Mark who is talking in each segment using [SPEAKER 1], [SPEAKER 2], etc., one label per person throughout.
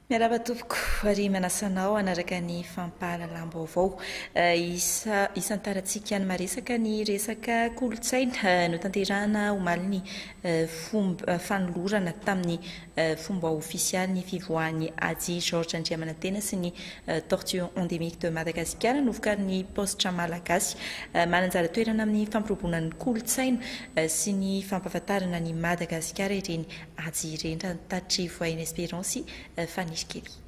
[SPEAKER 1] Miarahaba tompoko ary manasa anao hanaraka ny fampahalalam-baovao. Eh, isa isan-tarantsika ny maresaka ny resaka kolontsaina eh, notanterahana omaly ny eh, fomba eh, fanolorana tamin'ny fomba ofisialy ny fivoahan'i Haji Georges Andriamanantena sy ny Tortue endémique de Madagasikara novokarin'ny Paositra Malagasy. Mananjara toerana amin'ny fampirobona ny kolontsaina sy ny fampahafantarana an'i Madagasikara ireny Haji ireny, raha ny tatitry Voyne Espérance Fanirikely.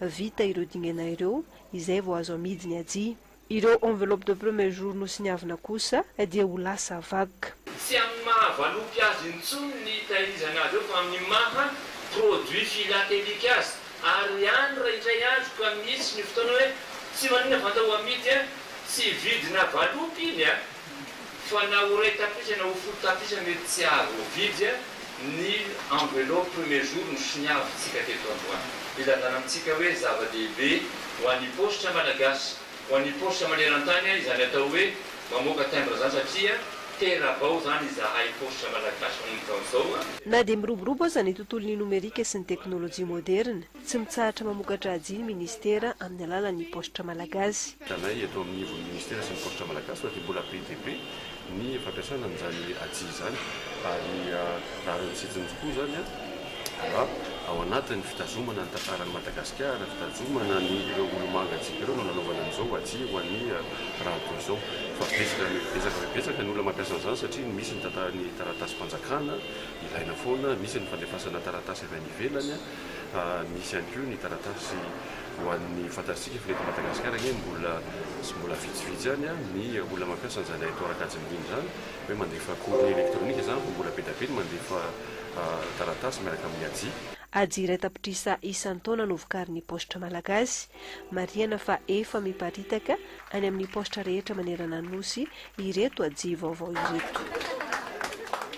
[SPEAKER 2] Vita ireo dingana ireo, izay vao azo amidy ny ajia. Ireo enveloppes de premier jour nosiniavina kosa dia ho lasa vague. Tsy amin'ny maha
[SPEAKER 3] valopy azy intsony ny itahirizana azy eo fa amin'ny maha produit philatelique azy. Ary any raha indray andro ka misy ny fotoana hoe tsy maninona fa andao amidy an! tsy vidina valopy iny an! Fa na ho iray tapitre na ho folo tapitre mety tsy hahavoavidy ny enveloppe premier jour no soniavintsika teto androany. Ilazana amintsika hoe zava-dehibe ho an'ny paositra malagasy, ho an'ny paositra maneran-tany izany atao hoe mamoaka timbre izany satria tera-bao izany izahay paositra malagasy manomboka amin'izao. Na dia miroborobo
[SPEAKER 2] aza ny tontolon'ny nomerika sy ny teknolojia moderina, Tsy mitsahatra mamoka-dratsy ny Ministera amin'ny alalan'ny Paositra Malagasy. Tanay eto amin'ny ivon'ny
[SPEAKER 4] Ministera sy ny Paositra Malagasy fa dia mbola be dia be ny fampiasana an'izany atsy izany ary rariny sy hitsiny tokoa izany raha ao anatin'ny fitazomana ny tantaran'i Madagasikara, fitazomana ny ireo olomanga antsika ireo no nanaovana an'izao atsy ho an'ny rahatoa izao fa betsaka betsaka fa betsaka ny olona mampiasa an'izany satria misy ny taratasym-panjakana ilaina foana, misy ny fandefasana taratasy avy any ivelany. Misy ihany koa ny taratasy ho an'ny fantatsika fa eto Madagasikara anie mbola sy mbola vitsivitsy ihany ny olona mampiasa an'izany haitao ara-kajy miniana izany hoe mandefa courrier électronique izany fa mbola be dia be ny mandefa taratasy miaraka amin'ny AJI. AJI iray
[SPEAKER 2] tapitrisa isan-taona no vokarin'ny paositra malagasy. Marihana fa efa miparitaka any amin'ny paositra rehetra manerana ny Nosy ireto AJI vaovao ireto.